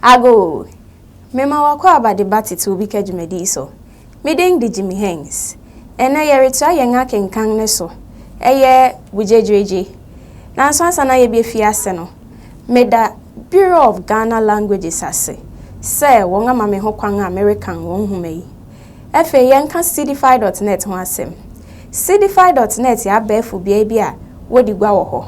Ago, Mema w'akwaaba de ba tete obi ka dwumadi yi so. Me din de Jimmy Hengz. Ɛnnɛ yɛretoa yɛn akenkan no so. Ɛyɛ bogyadwiradwi. Nanso ansa na yɛbɛfi ase no, meda Bureau of Ghana Languages ase sɛ wɔama me hokwan a merekan wɔn nhoma yi. Afei yɛnka Seedify dɔt nɛt ho asɛm. Seedify dɔt nɛt yɛ abɛɛfo beae bi a wodi gua wɔ hɔ.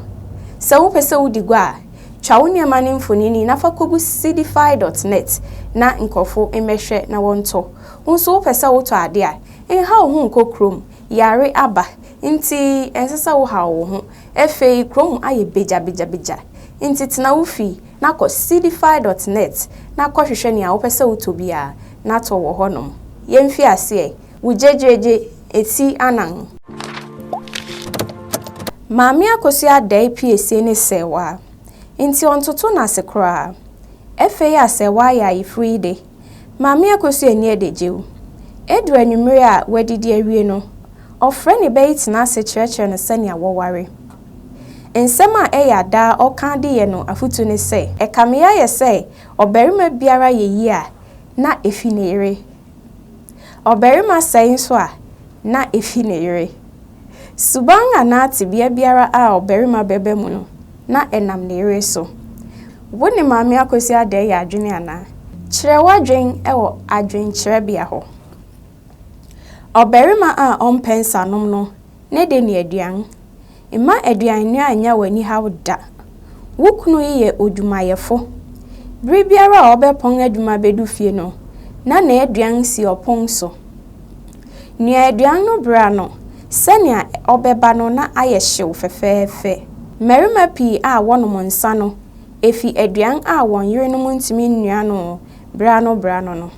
Sɛ wopɛ sɛ wudi gua a, twa wo nneɛma no mfonini na fa kogu Seedify dɔt nɛt na nkurɔfo mmɛhwɛ na wɔntɔ. Wo nso wopɛ sɛ wotɔ ade a, nhaw wo ho nkɔ kurom. Yare aba nti ɛnsɛ sɛ wohaw wo ho. Afei kurom ayɛ begyabegyabegya nti tena wo fi. na kɔ Seedify dot net na kɔhwehwɛ nea wopɛ sɛ wotɔ biara na tɔ wɔ hɔnom. Yɛmfi aseɛ, wo gyegyeegye ɛti anan. Maame Akosua dae piesie ne sɛɛwaa, nti ɔntoto n'ase koraa. Ɛfei a sɛɛwaa yɛ ayeforo yi de, Maame Akosua ani adagyew. Edu anwummere a wɔadidi awie no, ɔfrɛ ne ba yi tena ase kyerɛkyerɛ no sɛnea wɔware. Nsɛm a ɛyɛ a daa ɔka de yɛ no afotu ne sɛ, Ɛkame ayɛ sɛ ɔbarima biara yɛ yie a, na efi ne yere. Ɔbarima sɛe nso a, na efi ne yere. Suban anaa tebea biara a ɔbarima bɛba mu no, na ɛnam ne yere so. Wo ne Maame Akwasi Adɛɛ yɛ adwene anaa? Kyerɛ w'adwene wɔ adwenkyerɛbea hɔ. Ɔbarima a ɔmpɛ nsanom no ne de ne aduan. Mma aduannoa nnya w'ani haw da. Wo kunu yi yɛ odwumayɛfo. Bere biara a ɔbɛpɔn adwuma bedu fie no, na n'aduan si ɔpon so. Noa aduan no bra no sɛnea ɔbɛba no na ayɛ hyew fɛfɛɛfɛ. Mmarima pii a wɔnom nsã no fi aduan a wɔn yerenom ntumi nnoa no bra no bra no no.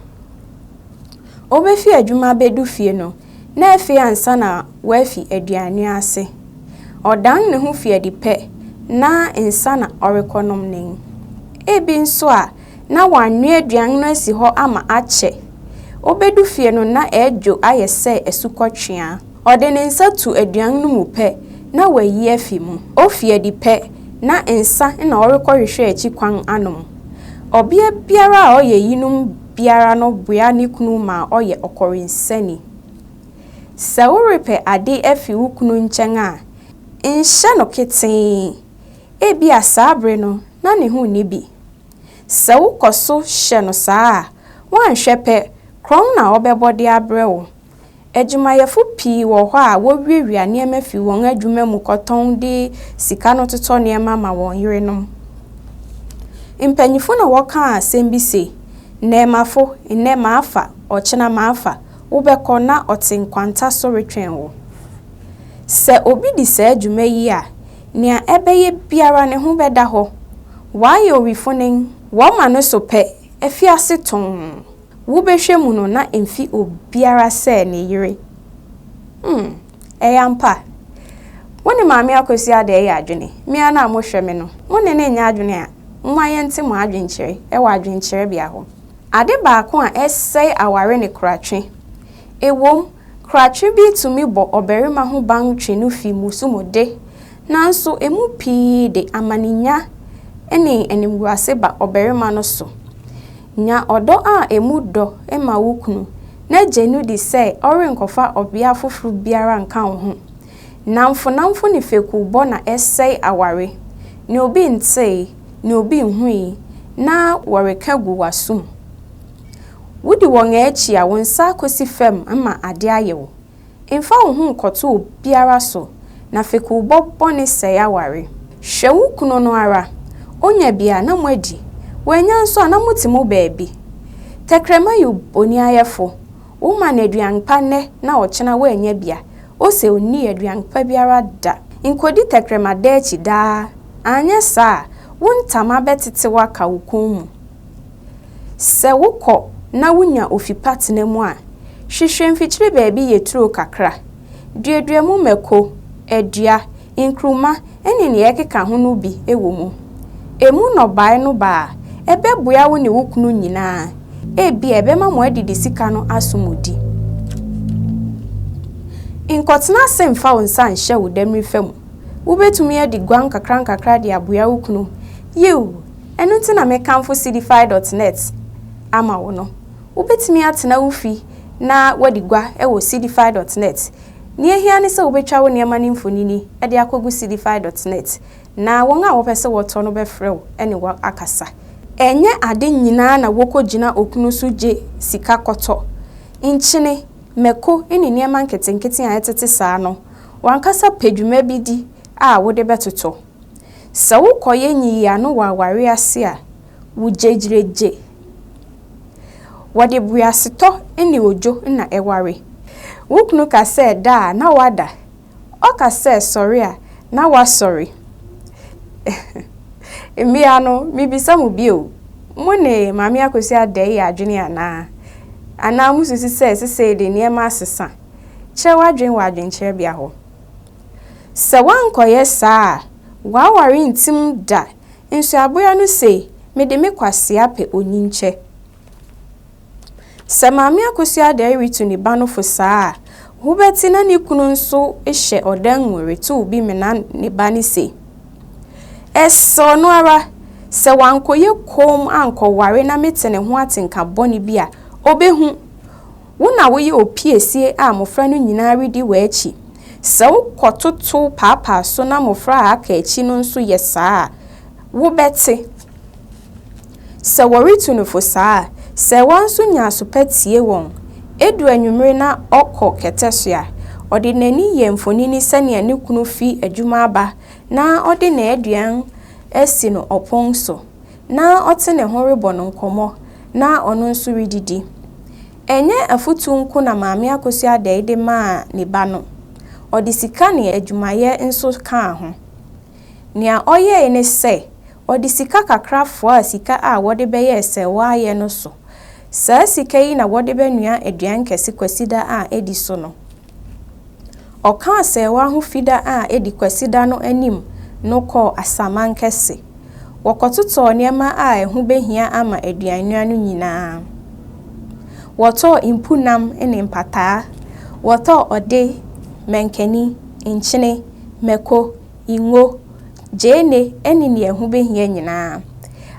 Wobefi adwuma abedu fie no, na afei ansa na wafi aduannoa ase. Ɔdan ne ho fi adi pɛ na nsã na ɔrekɔnom nen. Ebi nso a, na wɔanoa aduan no asi hɔ ama akyɛ. Obedu fie no na ɛredwo ayɛ sɛ asukɔtweaa. Ɔde ne nsa tu aduan no mu pɛ na wayi afi mu. Ofi adi pɛ na nsa na ɔrekɔhwehwɛ akyi kwan anom. Ɔbea biara a ɔyɛ eyinom biara no boa ne kunu ma ɔyɛ ɔkɔwensani. Sɛ worepɛ ade afi wo kunu nkyɛn a, nhyɛ no ketee. Ebia saa bere no na ne ho nni bi. Sɛ wokɔ so hyɛ no saa a, woanhwɛ pɛ, korɔn na ɔbɛbɔ de abrɛ wo. Adwumayɛfo pii wɔ hɔ a wowiawia nneɛma fi wɔn adwuma mu kɔtɔn de sika no totɔ nneɛma ma wɔn yerenom. Mpanyimfo na wɔkaa asɛm bi se, Nnɛ mafo, nnɛ mafa, ɔkyena mafa. Wobɛkɔ na ɔte nkwanta so retwɛn wo. Sɛ obi di saa dwuma yi a, Nea ɛbɛyɛ biara ne ho bɛda hɔ. Wayɛ owifonen, wɔma no so pɛ, afi ase tɔnn. Wobɛhwɛ mu no na emfi obiara sɛ ne yere. Hmm, ɛyɛ ampa. Wo ne Maame Akwasi Adɛɛ yɛ adwene? Me ara na mohwɛ me no, mo ne no nyɛ adwene a, momma yɛnte mo adwenkyerɛ wɔ adwenkyerɛbea hɔ. Ade baako a ɛsɛe aware ne koratwe. Ɛwom, Krakye bi tumi bɔ ɔbarima ho ban twe no fi mmusu mu de, nanso emu pii de amanenya ne animguase ba ɔbarima no so. Nya ɔdɔ a emu dɔ ma wo kunu na gye no di sɛ ɔrenkɔfa ɔbea foforo biara nka wo ho. Nnamfonamfo ne fekuwbɔ na ɛsɛe aware. Nea obi ntee, nea obi nhui, na wɔreka gu w'asom. Wodi wɔn akyi a, wo nsa akosi fam ma ade ayɛ wo. Mfa wo ho nkɔto obiara so, na fekuwbɔ bɔne sɛe aware. Hwɛ wo kunu no ara. Onya bi a, na moadi. Wannya nso a, na mote mo baabi. Tɛkrɛma yɛ bonniayɛfo. Woma no aduan pa nnɛ na ɔkyena wannya bi a, ose onnii aduan pa biara da. Nkodi tɛkrɛma da akyi daa, anyɛ saa a, wo ntama bɛtetew aka wo kɔn mu. Sɛ wokɔ na wunya ofi pa tena mu a, hwehwɛ mfikyiri baabi yɛ turo kakra. Duadua mu mako, adua, nkruma ne nea ɛkeka ho no bi wɔ mu. Emu nnɔbae no ba a, ɛbɛboa wo ne wo kunu nyinaa. Ebia ɛbɛma mo adidi sika no aso mo di. Nkɔtena ase mfa wo nsa nhyɛ wo demmire fa mu. Wubetumi adi guan nkakrankakra de aboa wo kunu. Yiw, Ɛno nti na mekamfo Seedify dot net ama wo no. Wobɛtumi atena wo fi na woadi gua wɔ Seedify dot net. Nea ɛhia ne sɛ wobɛtwa wo nneɛma no mfonini de akɔgu Seedify dot net, na wɔn a wɔpɛ sɛ wɔtɔ no bɛfrɛ wo ne wo akasa. Ɛnyɛ ade nyinaa na wɔkɔgyina okunu so gye sika kɔtɔ. Nkyene, mako ne nneɛma nketenkete a ɛtete saa no, w'ankasa pɛ dwuma bi di a wode bɛtotɔ. Sɛ wokɔyɛ nyiyiano wɔ aware ase a, wogyegyiregye. Wɔde boasetɔ ne odwo na ɛware. Wo kunu ka sɛ da a, na woada. Ɔka sɛ sɔre a, na woasɔre. Mmea no, mibisa mo bio, mo ne Maame Akosua Addae yɛ adwene anaa? Anaa mususu sɛ seesei de nneɛma asesa? Kyerɛ w'adwene wɔ adwenkyerɛbea hɔ. Sɛ woankɔyɛ saa a, w'aware rentim da. Nsuaboa no se, Mede me kwasea pɛ onyinkyɛ. Sɛ Maame Akosua Adare retu ne ba no fo saa a, wobɛte na ne kunu nso hyɛ ɔdan mu retow bi mena ne ba no se, Ɛsɛ ɔno ara, sɛ wankɔyɛ komm ankɔware na mete ne ho atenka bɔne bi a, obehu. Wo na woyɛ opiesie a mmofra no nyinaa redi w'akyi. Sɛ wokɔtotow paapaa so na mmofra a aka akyi no nso yɛ saa a, wobɛte. Sɛ wɔretu no fo saa a, sɛɛwa nso nya aso pa tie wɔn. Edu anwummere na ɔkɔ kɛtɛ so a, ɔde n'ani yɛ mfonini sɛnea ne kunu fi adwuma aba na ɔde n'aduan asi no ɔpon so. na ɔte ne ho rebɔ no nkɔmmɔ na ɔno nso redidi. Ɛnyɛ afotu nko na Maame Akosua Adei de maa ne ba no, ɔde sika ne adwumayɛ nso kaa ho. Nea ɔyɛe ne sɛ, ɔde sika kakra foaa sika a wɔde bɛyɛ sɛwaayɛ no so. Saa sika yi na wɔde bɛnoa aduan kɛse Kwasida a edi so no. Ɔka asɛewa ho Fida a edi Kwasida no anim no kɔɔ asaman kɛse. Wɔkɔtotɔɔ nneɛma a ɛho behia ama aduannwira no nyinaa. Wɔtɔɔ mpunnam ne mpataa. Wɔtɔɔ ɔde, mankani, nkyene, mako, ngo, gyeene ne nea ɛho behia nyinaa.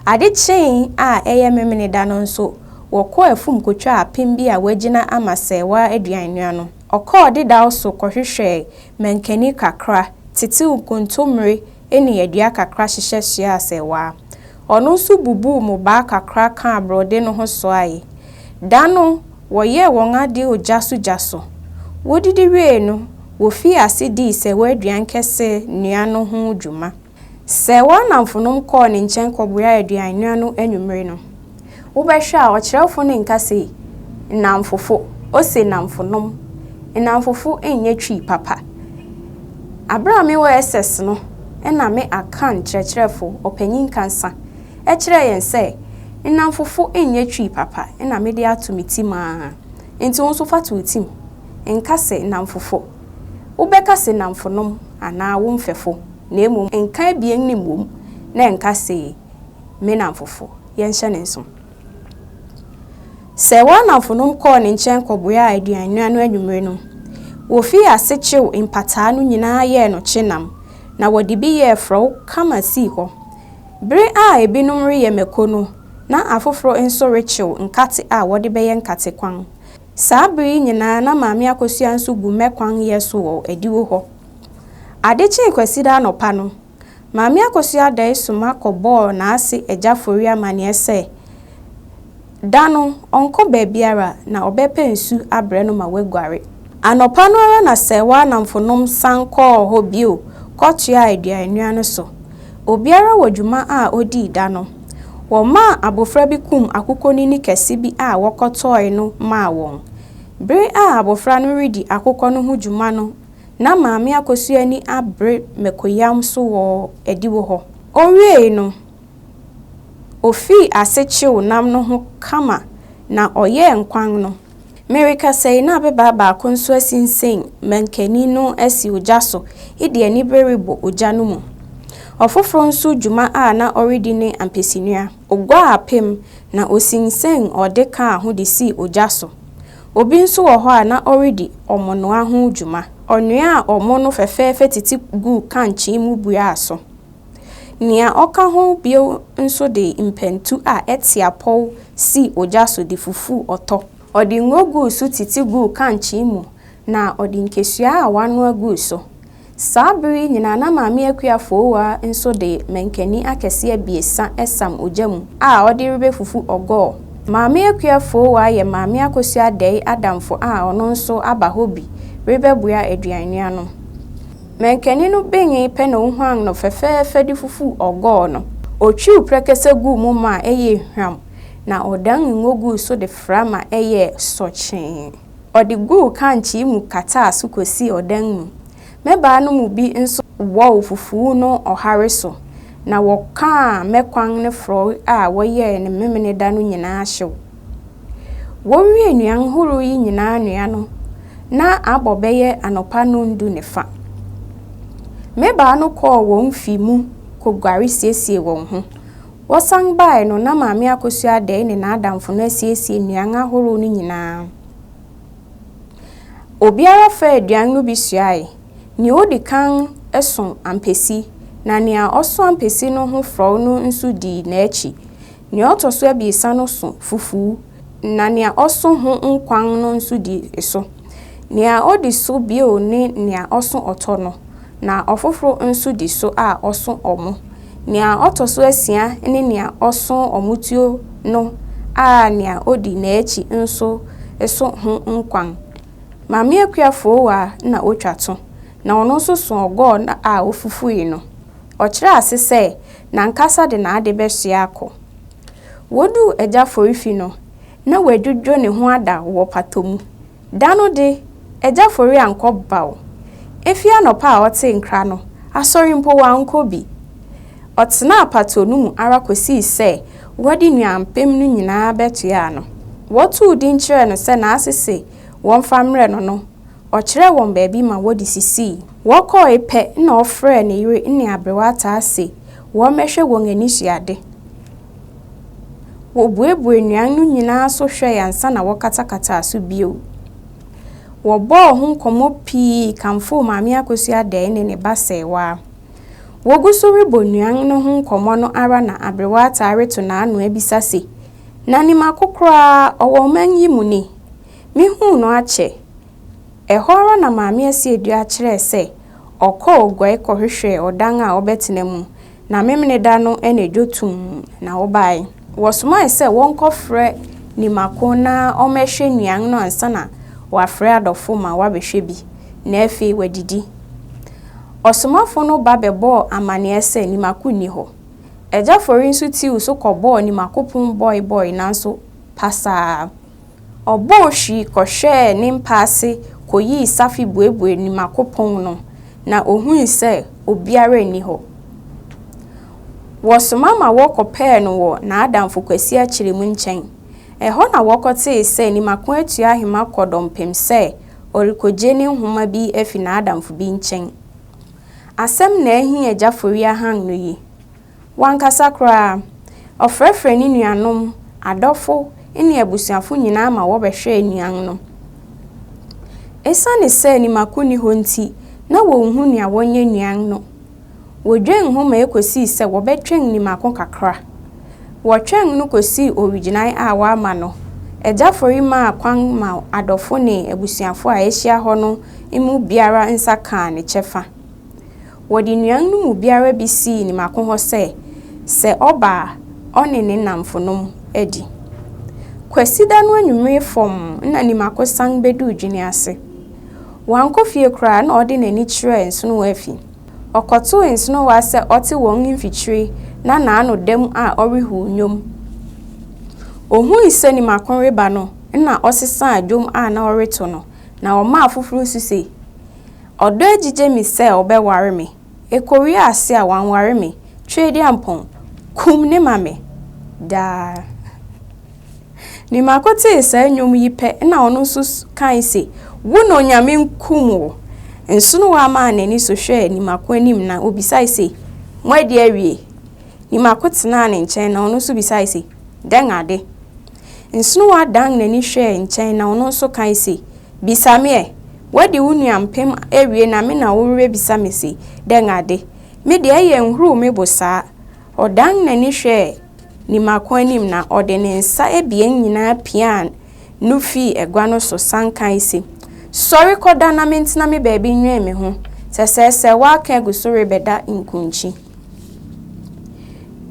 Ade kyee a ɛyɛ Memeneda no nso, wɔkɔɔ afum kotwaa apem bi a wɔagyina ama sɛɛwa aduan noa no. Ɔkɔɔ dedaw so kɔhwehwɛɛ mankani kakra, tetew nkontommire ne adua kakra hyehyɛ soaa sɛɛwa. Ɔno nso bubuu mmobaa kakra kaa borɔde no ho soae. Da no, wɔyɛɛ wɔn ade ogya so gya so. Wodidi wiei no, wofii ase dii sɛwa aduan kɛse nua no ho dwuma. Sɛwa nnamfonom kɔɔ ne nkyɛn kɔboaa aduan nua no anwummere no. Wobɛhwɛ a, ɔkyerɛwfo no nka se nnamfofo, ose nnamfonom. Nnamfofo nyɛ Twi papa. Bere a mewɔ SS no na me Akan kyerɛkyerɛfo, Ɔpanyin Kansa, kyerɛɛ yɛn sɛ nnamfofo nyɛ Twi papa na mede ato me tirim ara. Enti wo nso fa to wo tirim. Nka se nnamfofo. Wobɛka se nnamfonom anaa wo mfɛfo, na mmom nka abien no mmom na nka se me nnamfofo, yɛnhyɛ no nsow. Sɛ w'annamfonom kɔɔ ne nkyɛn kɔboaa aduannwira no anwummere no, wofii ase kyew mpataa no nyinaa yɛɛ no kye nam, na wɔde bi yɛɛ frɔw kama sii hɔ. Bere a ebinom reyɛ mako no, na afoforo nso rekyew nkate a wɔde bɛyɛ nkate kwan. Saa bere yi nyinaa na Maame Akosua nso gu mmɛ kwan yɛ so wɔ adiwo hɔ. Ade kyee Kwasida anɔpa no, Maame Akosua Addae soma kɔbɔɔ n'ase agya Fori amanneɛ sɛ da no ɔnkɔ baabiara na ɔbɛpɛ nsu abrɛ no ma waguare. Anɔpa no ara na Sɛɛwa nnamfonom san kɔɔ hɔ bio kɔtoaa aduannua no so. Obiara wɔ dwuma a odii da no. Wɔmaa abofra bi kum akokɔnini kɛse bi a wɔkɔtɔe no maa wɔn. Bere a abofra no redi akokɔ no ho dwuma no na Maame Akosua ani abere mako-yam so wɔ adiwo hɔ. Owiei no, ofii ase kyew nam no ho kama na ɔyɛɛ nkwan no. Merekasa yi, na ababaa baako nso asinsen mankani no asi ogya so de anibere rebɔ ogya no mu. Ɔfoforo nso dwuma a na ɔredi ne ampesinua. Oguaa apem, na osinsɛn ɔde kaa ho de sii ogya so. Obi nso wɔ hɔ a na ɔredi ɔmonoa ho dwuma. Ɔnoaa ɔmo no fɛfɛɛfɛ tete guu kankyee mu buaa so. Nea ɔka ho bio nso de mpɛntu a ɛte apɔw sii ogya so de fufuu ɔtɔ. Ɔde ngo guu so tete guu kankyee mu na ɔde nkesua a wɔanoa guu so. Saa bere yi nyinaa na Maame Akua Fowaa nso de mankani akɛse abiɛsa sam ogya mu a ɔde rebefufu ɔgɔɔ. Maame Akua Fowaa yɛ Maame Akosua Adɛe adamfo a ɔno nso aba hɔ bi rebɛboa aduannua no. Mankani no benee pɛ na ohuan no fɛfɛɛfɛ de fufuu ɔgɔɔ no. Otwiw prɛkɛsɛ guu mu maa ɛyɛɛ hwam, na ɔdan ngo guu so de fra ma ɛyɛɛ sɔkyee. Ɔde guu kankyee mu kataa so kosii ɔdan mu. Mmabaa no mu bi nso wɔɔw fufuw no ɔhare so, na wɔkaa mmɛkwan ne frɔe a wɔyɛe no Memeneda no nyinaa hyew. Wowiee nnuan horow yi nyinaa noa no, na abɔ bɛyɛ anɔpa nnɔndu ne fã. Mmabaa no kɔɔ wɔn mfe mu koguare siesiee wɔn ho. Wɔsan bae no, na Maame Akosua Aday ne n'adamfo no asiesie nnuan ahorow no nyinaa. Obiara faa aduan no bi suae. Nea odi kan so ampesi, na nea ɔso ampesi no ho frɔw no nso dii n'akyi. Nea ɔto so abiɛsa no so fufu, na nea ɔso ho nkwan no nso di so. Nea odi so bio ne nea ɔso ɔtɔ no, na ɔfoforo nso di so a ɔso ɔmo. Nea ɔtɔ so asia ne nea ɔso ɔmotuo no a nea odi n'akyi nso so ho nkwan. Maame Akua Fowaa na otwa to, na ɔno nso so ɔgɔɔ no a ofufui no. Ɔkyerɛɛ ase sɛ, n'ankasa de n'ade bɛsoɛ akɔ. Woduu agya Forifi no, na wadwudwo ne ho ada wɔ pata mu. Da no de, agya Fori ankɔ baw. Efi anɔpa a ɔtee nkra no, asɔre mpo wankɔ bi. Ɔtenaa pata no mu ara kosii sɛ wɔde nnuanpem no nyinaa bɛtoaa no. Wɔtoo din kyerɛɛ no sɛ n'ase se wɔmfa mmrɛ no no, ɔkyerɛɛ wɔn baabi ma wɔde sisii. Wɔkɔe pɛ na ɔfrɛɛ ne yere ne aberewa ataa se Wɔmmɛhwɛ wɔn ani sua ade. Wɔbuebuee nnuan no nyinaa so hwɛe ansa na wɔkatakataa so bio. Wɔbɔɔ ho nkɔmmɔ pii kamfoo Maame Akosua Addae ne ne ba Sɛɛwaa. Wogu so rebɔ nnuan no ho nkɔmmɔ no ara na Aberewa ataa reto n'ano abisa se, Na nim akokoraa a ɔwɔ ɔman yi mu ni? Mehuu no akyɛ. Ɛhɔ ara na Maame Asieduaa kyerɛɛ sɛ ɔkɔɔ guai kɔhwehwɛɛ ɔdan a ɔbɛtena mu, na Memeneda no anadwo tumm na ɔbae. Wɔsomae sɛ wɔnkɔfrɛ Nimako na ɔmmɛhwɛ nnuan no ansa na wɔafrɛ adɔfo ma wɔabɛhwɛ bi, na afei wɔadidi. Ɔsomafo no ba bɛbɔɔ amanneɛ sɛ Nimako nni hɔ. Agya Fori nso tiiw so kɔbɔɔ Nimako pon bɔe bɔe nanso pasaa. Ɔbɔɔ hwi kɔhwɛɛ ne mpa ase koyii safe buebuee ne mako pon no, na ohui sɛ obiara nni hɔ. Wɔsoma ma wɔkɔpɛɛ no wɔ n'adamfo Kwasi Akyeremu nkyɛn. Ɛhɔ na wɔkɔtee sɛ ne mako atu ahema kɔ dɔmpem sɛ ɔrekogye ne nhoma bi afi n'adamfo bi nkyɛn. Asɛm na ahi Agya Foriahang no yi. Wankasa koraa, ɔfrɛfrɛɛ ne nuanom, adɔfo, ne abusuafo nyinaa ma wɔbɛhwɛɛ nnuan no. Esiane sɛ ne mako nni hɔ nti, na wonhu nea wɔnyɛ nnuan no. Wodwen ho ma ekosii sɛ wɔbɛtwɛn ne mako kakra. Wɔtwɛn no kosii owigyinae a wɔama no. Agya Fori maa kwan ma adɔfo ne abusuafo a ahyia hɔ no mu biara nsa kaa ne kyɛfa. Wɔde nnuan no mu biara bi sii ne mako hɔ sɛ, sɛ ɔba a, ɔne ne nnamfonom adi. Kwasida no anwummere fam na ne mako san beduu Dwene ase. Wankɔ fie koraa na ɔde n'ani kyerɛɛ nsonowa afi. Ɔkɔtoo nsonowa sɛ ɔte wɔn mfikyiri na n'ano da mu a ɔrehuw nnwom. Ohui sɛ ne mako reba no na ɔsesaa dwom a na ɔreto no, na ɔmaa afoforo su sɛ, Ɔdɔ agyigye me sɛ ɔbɛware me, ɛkɔwie ase a wanware me, Tweaduampɔn, kum ne ma me daa. Ne mako tee saa nnwom yi pɛ na ɔno nso kae se, Wo na Onyame nkum wo. Nsonowa maa n'ani so hwɛɛ ne mako anim na ɔbisae se, Moadi awie? Ne mako tenaa ne nkyɛn na ɔno nso bisae se, Dɛn ade? Nsonoa dan n'ani hwɛɛ nkyɛn na ɔno nso kae se, Bisa me ɛ! Woadi wo nua mpem awie na me na worebisa me se dɛn ade? Me deɛ ɛyɛ nhuruu me bo saa! Ɔdan n'ani hwɛɛ Nimako anim na ɔde ne nsa abien nyinaa piaa no fii agua no so san kae se, Sɔre kɔda na mentena me baabi nwɛn me ho, sɛsɛɛsɛ w'aka agu so rebɛda nkunkyi.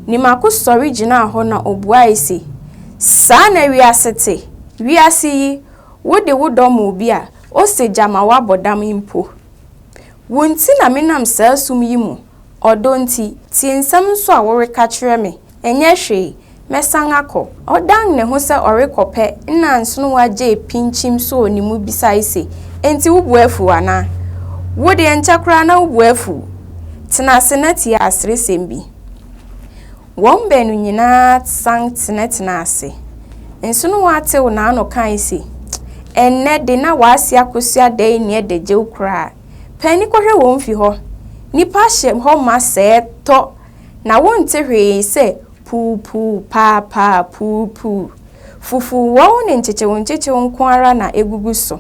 Nimako sɔre gyinaa hɔ na obuae se, Saa na wiase te. Wiase yi, wo de wo dɔ ma obi a, ose gya ma woabɔ dam mpo. Wo nti na menam saa sum yi mu, ɔdɔ nti, tie nsɛm nso a woreka kyerɛ me. Ɛnyɛ hwee, mɛsan akɔ. Ɔdan ne ho sɛ ɔrekɔ pɛ na Nsonowa Jay pinkyim soo ne mu bisae se, Enti wo bo afuw anaa? Wo de, ɛnkyɛ koraa na wo bo afuw. Tena ase na tie aseresɛm bi. Wɔn baanu nyinaa san tenatenaa ase. Nsonowa tew n'ano kae se, Ɛnnɛ de, na wɔase akosua dɛn nni adagyew koraa. Paani kɔhwɛ wɔn fi hɔ. Nnipa hyɛ hɔ ma sɛɛ tɔ. na wonte hwee sɛ puupuu, paapaa, puupuu. Fufuwɔw ne nkyekyewnkyekyew nko ara na egugu so.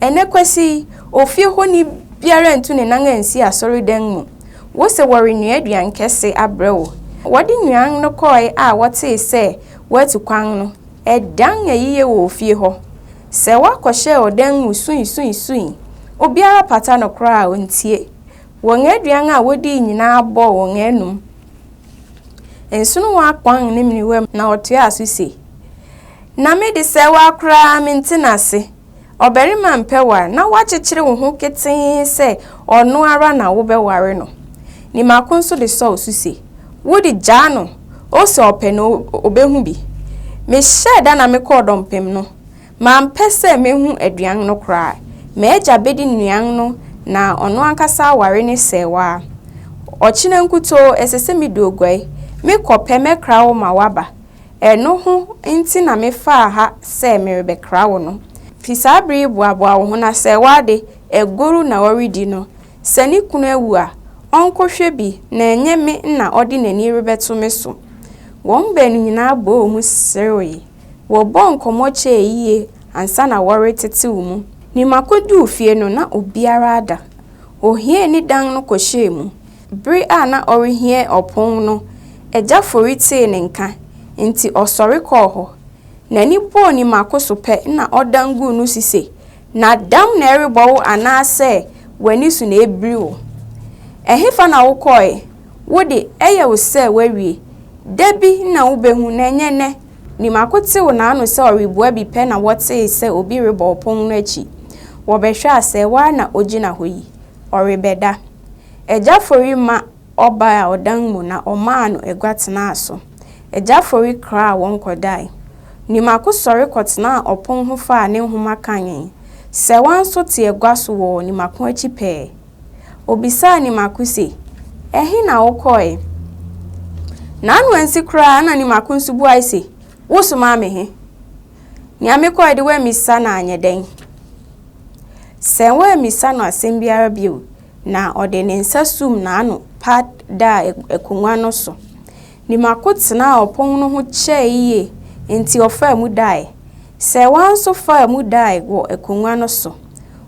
Ɛnnɛ Kwasi yi, ofie hɔni biara ntu ne nan ansi asɔredan mu. Wose wɔrenoa aduan kɛse abrɛ wo. Wɔde nnuan no kɔe a wɔtee sɛ wɔatu kwan no, ɛdan ayiyɛ wɔ ofie hɔ. Sɛ wɔakɔhyɛ ɔdan mu suisuisuii, obiara pata no koraa a ontie. Wɔn aduan a wɔdii nyinaa bɔɔ wɔn anom. Nsono wɔ akpɔn ne menewa mu. Na ɔtoaa so se, Na me de sɛ woa koraa mente no ase. Ɔbarima mpɛ ware na woakyekyere wo ho ketee sɛ ɔno ara na wobɛware no. Nimako nso de sɔɔ so se, Wo de, gyaa no, o sɛ ɔpɛ no, ɔbɛhu bi. Mehyɛɛ da na mekɔɔ dɔmpem no. Mampɛ sɛ mehu aduan no koraa. M'agya bedi nnuan no na ɔno ankasa aware ne sɛɛwaa. Ɔkyena nkutoo ɛsɛ sɛ midu oguai. Me kɔ pɛ mɛkra wo ma woaba. Ɛno ho nti na mefaa ha sɛ merebɛkra wo no. Fi saa bere yi boaboa wo ho na sɛɛwaa de, agoru na ɔredi no. Sɛ ne kunu awu a, ɔnkɔhwɛ bi na ɛnyɛ me na ɔde n'ani rebɛto me so. Wɔn baanu nyinaa bɔɔ mu serewee. Wɔbɔɔ nkɔmmɔ kyɛɛ yie ansa na wɔretetew mu. Nima koduu fie no, na obiara ada. Ohiee ne dan no kɔhyɛɛ mu. Bere a na ɔrehia ɔpon no, Agya Fori tee ne nka, enti ɔsɔre kɔɔ hɔ. N'ani bɔɔ Nima ko so pɛ na ɔdan guu no si se, Na dam na ɛrebɔ wo anaasɛ w'ani so na ɛrebiri wo? Ɛhefa na wokɔe? Wo de, ɛyɛ wo sɛ woawie. Da bi na wubehu, na ɛnyɛ nnɛ. Nimako tew n'ano sɛ ɔrebua bi pɛ na wɔtee sɛ obi rebɔ ɔpon no akyi. Wɔbɛhwɛ a sɛ wo ara na ogyina hɔ yi, ɔrebɛda. Agya Fori ma ɔbaa ɔdan mu na ɔmaa no agua tenaa so. Agya Fori kraa wɔn kɔdae. Nimako sɔre kɔtenaa ɔpon ho faa ne nhoma kanee. Sɛwa nso te agua so wɔ Nimako akyi pɛɛ. Obisaa ne mako se, Ɛhe na wokɔɔe? N'ano ansi koraa na ne mako nso buae se, Wosomaa me he? Nea mekɔɔe de woammisa no anyɛ dɛn? Sɛ woammisa no asɛm biara bio na ɔde ne nsa sum n'ano pa daa akongua no so. Ne mako tenaa ɔpon no ho kyɛe yiye, enti ɔfaa mu dae. Sɛ wɔn nso faa mu dae wɔ akonnwa no so.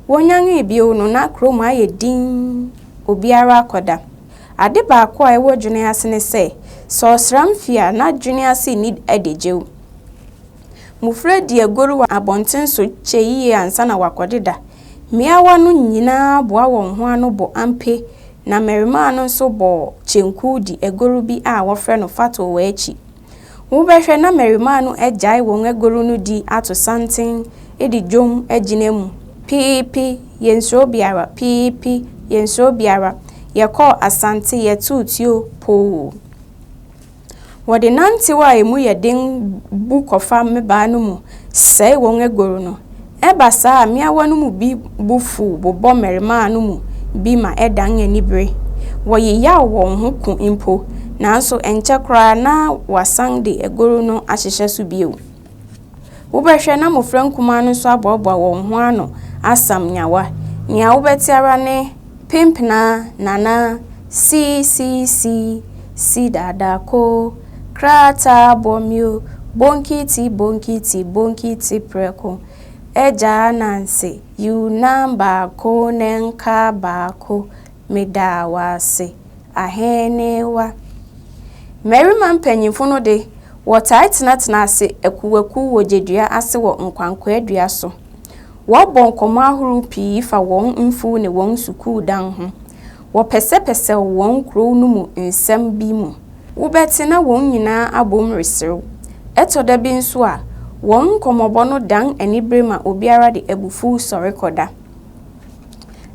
Wonyanee bio no, na kurom ayɛ dinn, obiara akɔda. Ade baako a ɛwɔ dwene ase ne sɛ, sɛ ɔsram fi a, na dwene ase nni adagyew. Mmofra di agoru wɔ abɔnten so kyɛ yiye ansa na wɔakɔdeda. Mmeawa no nyinaa boa wɔn ho ano bɔ ampe, na mmarimaa no nso bɔ kyenku di agoru bi a wɔfrɛ no fatow akyi. Wobɛhwɛ na mmarimaa no agyae wɔn agoru no di ato santen de dwom agyina mu, Piipi, yɛnsuro biara, piipi, yɛnsuro biara, yɛkɔɔ Asante, yɛtoo tuo, poo. Wɔde nantew a emu yɛ den bu kɔfa mmabaa no mu sɛe wɔn agoru no, Ɛba saa a, mmeawa no mu bi bo fuw bobɔ mmarimaa no mu bi ma ɛdan anibere. Wɔyeyaw wɔn ho ko mpo. Nanso ɛnkyɛ koraa na wɔasan de agoru no ahyehyɛ so bio. Wobɛhwɛ na mmofra nkumaa no nso aboaboa wɔn ho ano asam nyawa. Nea wobɛte ara ne Pimpna nana sii sii sii si dada ko Krataa bɔ mio bonkiti bonkiti bonkiti prɛko Agya Ananse yiw nam baako ne nka baako Meda wo ase Ahenewa Mmarima mpanyimfo no de, wɔtaa tenatena ase akuwakuw wɔ gyedua ase wɔ nkwankwaa dua so. Wɔbɔ nkɔmmɔ ahorow pii fa wɔn mfuw ne wɔn sukuu dan ho. Wɔpɛsɛpɛsɛw wɔn kurow no mu nsɛm bi mu. Wobɛte na wɔn nyinaa abom reserew. Ɛtɔ da bi nso a, wɔn nkɔmmɔbɔ no dan anibere ma obiara de abufuw sɔre kɔda.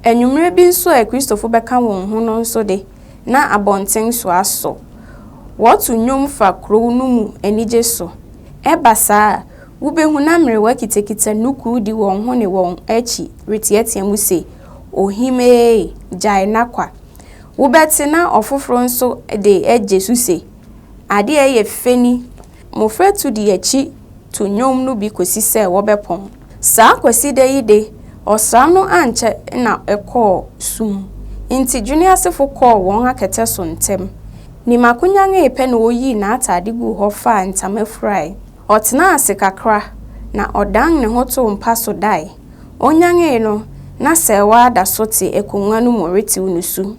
Anwummere bi nso a Kristofo bɛka wɔn ho no nso de, na abɔnten so asɔ. Wɔto nnwom fa kurow no mu anigye so. Ɛba saa a, Wubehu na mmerewa kitakita nnukuu di wɔn ho ne wɔn akyi reteɛteɛ mu se, Ohimee, gyae na kwa! Wobɛte na ɔfoforo nso de agye so se, Ade a ɛyɛ fɛ ni! Mmofra tu di akyi to nnwom no bi kosi sɛ wɔbɛpɔn. Saa Kwasida yi de, ɔsram no ankyɛ na ɛkɔɔ sum, enti Dwene asefo kɔɔ wɔn akɛtɛ so ntɛm. Nimaku nyannwee pɛ na oyii n'atade guu hɔ faa ntama furae. Ɔtenaa ase kakra, na ɔdan ne ho too mpa so dae. Onyanee no, na Serwaa da so te akongua no mu retew nusu.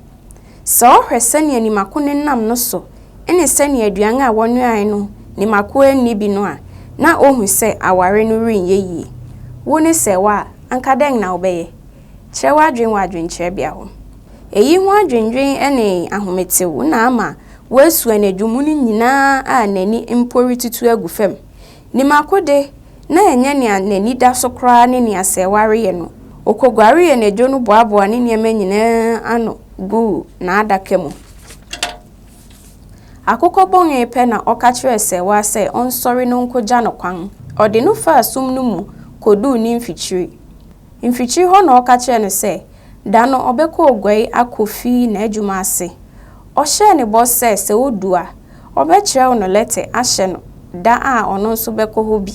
Sɛ ɔhwɛ sɛnea Nimako nenam no so ne sɛnea aduan a wɔnoae no Nimako anni bi no a, na ohu sɛ aware no renyɛ yiye. Wo ne Serwaa, anka dɛn na wobɛyɛ? Kyerɛ w'adwene wɔ adwenkyerɛbea hɔ. Eyi ho adwennwen ne ahometew na ama woasu anadwo mu no nyinaa a n'ani mpo retutu agu fam. Nim akode, na ɛnyɛ nea n'ani da so koraa ne nea sɛ wareyɛ no, okoguaree anadwo no boaboaa ne nneɛma nyinaa ano guu n'adaka mu. Akokɔ bɔnee pɛ na ɔka kyerɛɛ sɛɛwa sɛ ɔnsɔre no nkogya no kwan. Ɔde no faa sum no mu koduu ne mfikyiri. Mfikyiri hɔ na ɔka kyerɛɛ no sɛ da no ɔbɛkɔ Oguai akofi n'adwuma ase. Ɔhyɛɛ no bɔ sɛ sɛ odu a, ɔbɛkyerɛw no lɛtɛ ahyɛ no da a ɔno nso bɛkɔ hɔ bi.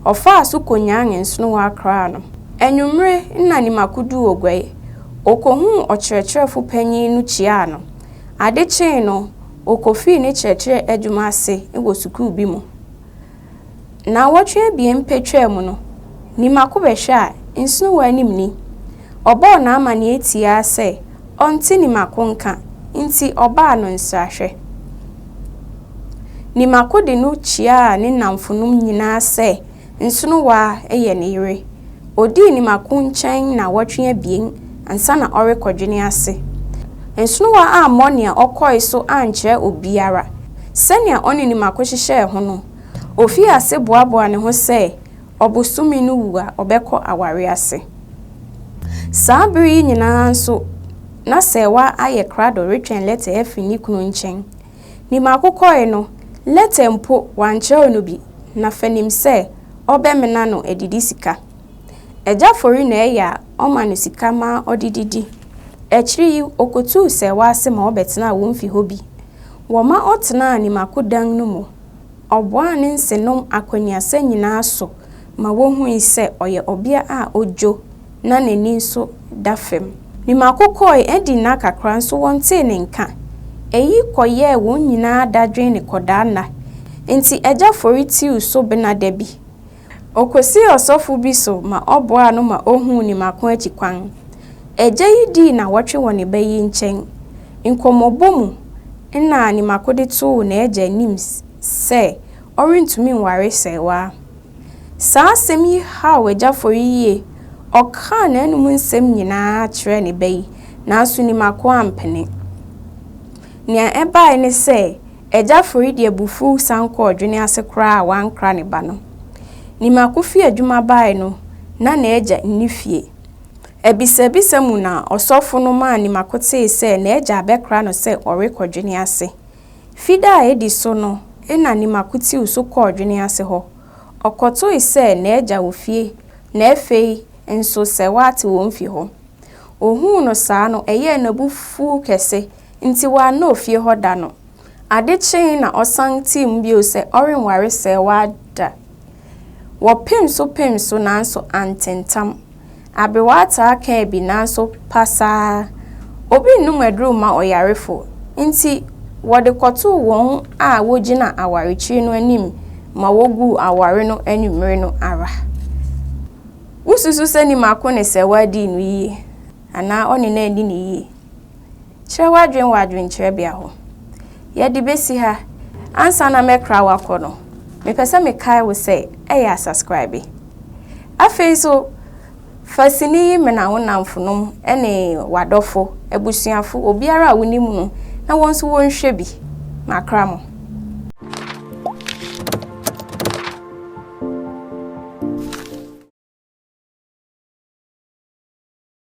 Ɔfaa so konyan nsono wɔ Accra no. Anwummere na Nima koduu Oguai. Okohuu ɔkyerɛkyerɛfo panyin no kyiaa no. Ade kyee no, okofii ne kyerɛkyerɛ adwuma ase wɔ sukuu bi mu. Naawɔtwe abien pɛ twaa mu no, ne mako bɛhwɛ a nsono wɔ anim ni. Ɔbɔɔ n'amanneɛ tiaa sɛ ɔnte ne mako nka nti ɔbaa no nsrahwɛ. Ne mako de no kyiaa ne nnamfonom nyinaa sɛ nsono wɔ a yɛ ne yere. Ɔdii ne mako nkyɛn naawɔtwe abien ansa na ɔrekɔdwene ase. Nsono wɔ ammɔ nea ɔkɔe so ankyerɛ obiara. Sɛnea ɔne ne mako hyehyɛɛ ho no, Ofii ase boaboaa ne ho sɛ ɔbosome no wu a, ɔbɛkɔ aware ase. Saa bere yi nyinaa nso, na Serwaa ayɛ krado retwɛn lɛtɛ afi ne kunu nkyɛn. Ne mako kɔe no, lɛtɛ mpo, wankyerɛw no bi, na fa nim sɛ ɔbɛmena no adidi sika. Agya Fori na ɛyɛ a ɔma no sika ma ɔde didi. Akyiri yi, okotuu Serwaa ase ma ɔbɛtenaa wɔn fi hɔ bi. Wɔma ɔtenaa ne mako dan no mu. Ɔboaa ne nsenom akɔneasa nyinaa so ma wohui sɛ ɔyɛ ɔbea a odwo na n'ani nso da fam. Ne mako kɔe, adi nna kakra nso wɔntee ne nka. Eyi kɔyɛɛ wɔn nyinaa dadwen ne kɔdaa nna. Enti Agya Fori tiw so bena da bi, Okosii ɔsɔfo bi so ma ɔboaa no ma ohuu ne mako akyi kwan. Agya yi dii nnawɔtwe wɔ ne ba yi nkyɛn. Nkɔmmɔbɔ mu na ne mako de too n'agya anim sɛ ɔrentumi nware sɛewaa. Saa asɛm yi haw Agya Fori yiye. Ɔkaa n'anom nsɛm nyinaa kyerɛɛ ne ba yi, nanso ne mako ampene. Nea ɛbae ne sɛ, Agya Fori de abufuw san kɔɔ Dwene ase koraa a wankra ne ba no. Nimako fii adwuma bae no, na n'agya nni fie. Abisabisa mu na ɔsɔfo no maa Nimako tee sɛ n'agya abɛkra no sɛ ɔrekɔ Dwene ase. Fida a edi so no na Nimako tiw so kɔɔ Dwene ase hɔ. Ɔkɔtoe sɛ n'agya wɔ fie na afei nso sɛ wate wɔn fi hɔ. Ohuu no saa no, ɛyɛɛ no abufuw kɛse. Ntsi ɔannɔɔ fie hɔ da no. Ade kyee na ɔsan tsee mu bio sɛ ɔrennware sɛɛwaa da. Wɔpem so pem so naaso anntentam. Aber wɔataa kãa bi naaso pasaa. Obi nnom adur mma ɔyarefo, ntsi wɔde kɔtoo hɔn a wogyina awarekyir no anim ma woguu awar no ewimbir no ara. Wosusu sɛ nyimako ne sɛɛwaa dii no yie anaa ɔne no enni no yie? Kyerɛ w'adwene wɔ adwenkyerɛbea hɔ. Yɛde besi ha, ansa na mɛkra wo akɔ no, mepɛ sɛ mekae wo sɛ ɛyɛ asaskraabe. Afei nso, fa sini yi mena wo nnamfonom ne w'adɔfo, abusuafo, obiara a wunim no na wɔn nso wɔnhwɛ bi. Makra mo.